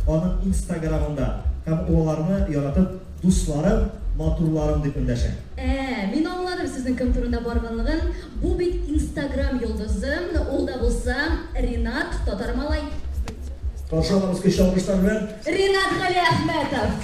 аның инстаграмында һәм ул аларны яратып дусларым, матурларым дип эндәшә. Ә, мин аңладым сезнең кем турында барганлыгын, бу бит инстаграм йолдызы, ул да булса Ринат, татар малай. Каршы алабыз көчле алкышлар белән. Ринат Галиәхмәтов!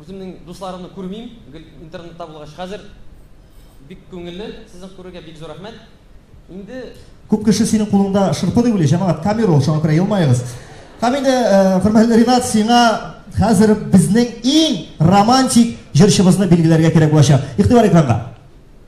Үземнең дусларымны күрмим, гел интернетта булгач. Хәзер бик күңелле сезне күрергә, бик зур рәхмәт. Инде. Күп кеше синең кулыңда шырпы дип уйлый, җәмәгать, камера ул, шуңа күрә елмаегыз. Һәм инде, хөрмәтле Ринат, сиңа хәзер безнең иң романтик җырчыбызны билгеләргә кирәк булачак. Игътибар экранга.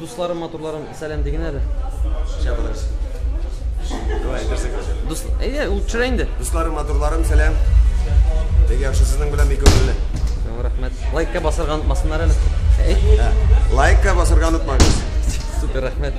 Дусларым, матурларым, сәлам дигән әле. Чабылыш. Давай, берсек. Дус, әйе, ул төшерә инде. Дусларым, матурларым, сәлам. Бик яхшы сезнең белән бик күңелле. Рәхмәт. Лайкка басарга онытмасыннар әле. Ә, Лайкка басарга онытмагыз. Супер, рәхмәт.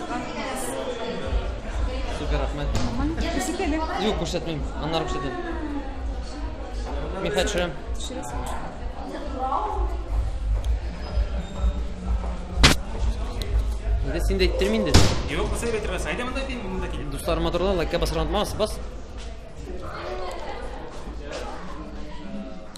Супер, рәхмәт. Күрсәт әле. Юк, күрсәтмим. Аннары күрсәтәм. Мин хәт төшерәм. Инде син дә иттермә инде. Юк, кыса дип әйттермәс. Әйдә монда кил, монда кил. Дусларыма торда, лайкка басарга онытмагыз. Бас.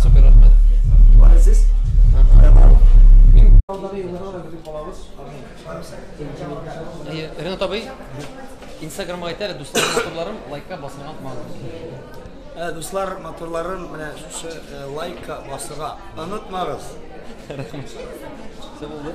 Супер рәхмәт. Бары сез? Әйе, Ренат абый, Инстаграмга әйтә әле, дуслар, моторларым, лайкка басырга онытмагыз. Ә, дуслар, моторларым, менә шушы э, лайкка басырга онытмагыз. Рәхмәт. Все булды.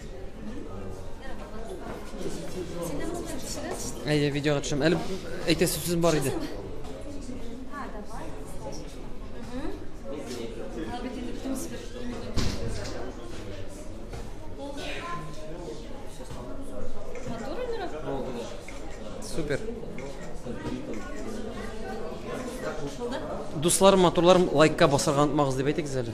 Әйе, видеога төшәм. Әле әйтәсе сүз бар иде. Супер. Дусларым, матурларым, лайкка басарга онытмагыз дип әйтегез әле.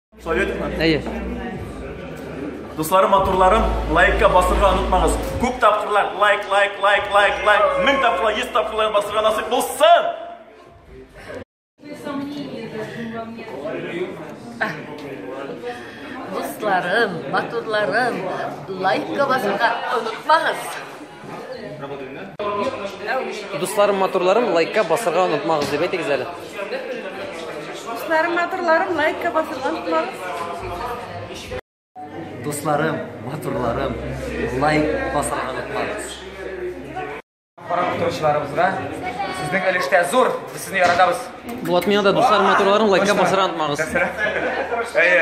Советовна? Әйе. Дусларым, матурларым, лайкка басырга онытмагыз. Күп тапкырлар лайк, лайк, лайк, лайк, лайк. Мең тапкырлар, йөз тапкырлар басырга насыйп булсын! Дусларым, матурларым, лайкка басырга онытмагыз. Дусларым, матурларым, лайкка басырга онытмагыз дип әйтегез әле. Дусларым, матурларым, лайкка басырга онытмагыз. Дусларым, матурларым, лайк басырга онытмагыз. Карап утыручыларыбызга сезнең өлештә зур, без сезне яратабыз. Булат миңа да дусларым, матурларым, лайкка басырга онытмагыз. Әйе,